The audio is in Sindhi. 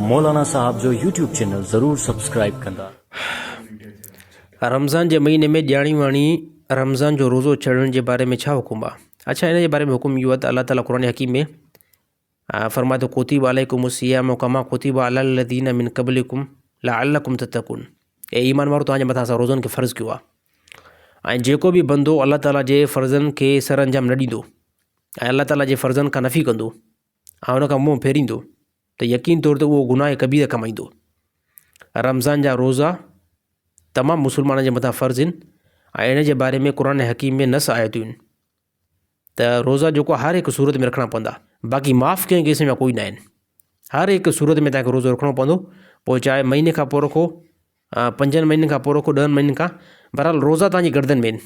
مولانا صاحب جو يوٽيوب چينل ضرور سبسڪرائيب ڪندا. رمضان جي مهيني ۾ ڄاڻي واڻي رمضان جو روزو ڇڏڻ جي باري ۾ ڇا حڪم آهي؟ اڇا ان جي باري ۾ حڪم اهو آهي ته الله تعالي قرآن حڪيم ۾ فرمائي ٿو ڪتب عليکم الصيام ڪما ڪتب علي الذين من قبلكم لعلكم تتقون اي ايمان وارو توهان جي مٿان اسان روزن کي فرض ڪيو آهي ۽ جيڪو به بندو الله تعالي جي فرضن کي سر انجام نه ڏيندو ۽ الله تعالي جي فرضن کان نفي ڪندو ۽ ان کان منهن ڦيريندو ته يقين طور تي اهو گناهه ڪبيره ڪمائيندو. رمضان جا روزا تمام مسلمانن جي مٿان فرض آهن ۽ ان جي باري ۾ قرآن حڪيم ۾ نص آيتون آهن ته روزا جيڪو هر هڪ صورت ۾ رکڻا پوندا باقي معاف ڪنهن ڪيس ۾ ڪوئي نه آهن هر هڪ صورت ۾ تنهن کي روزو رکڻو پوندو پوء چاهي مهيني کان پوء رکو پنجن مهينن کان پوء رکو ڏهن مهينن کان بهرحال روزا تنهنجي گردن ۾ آهن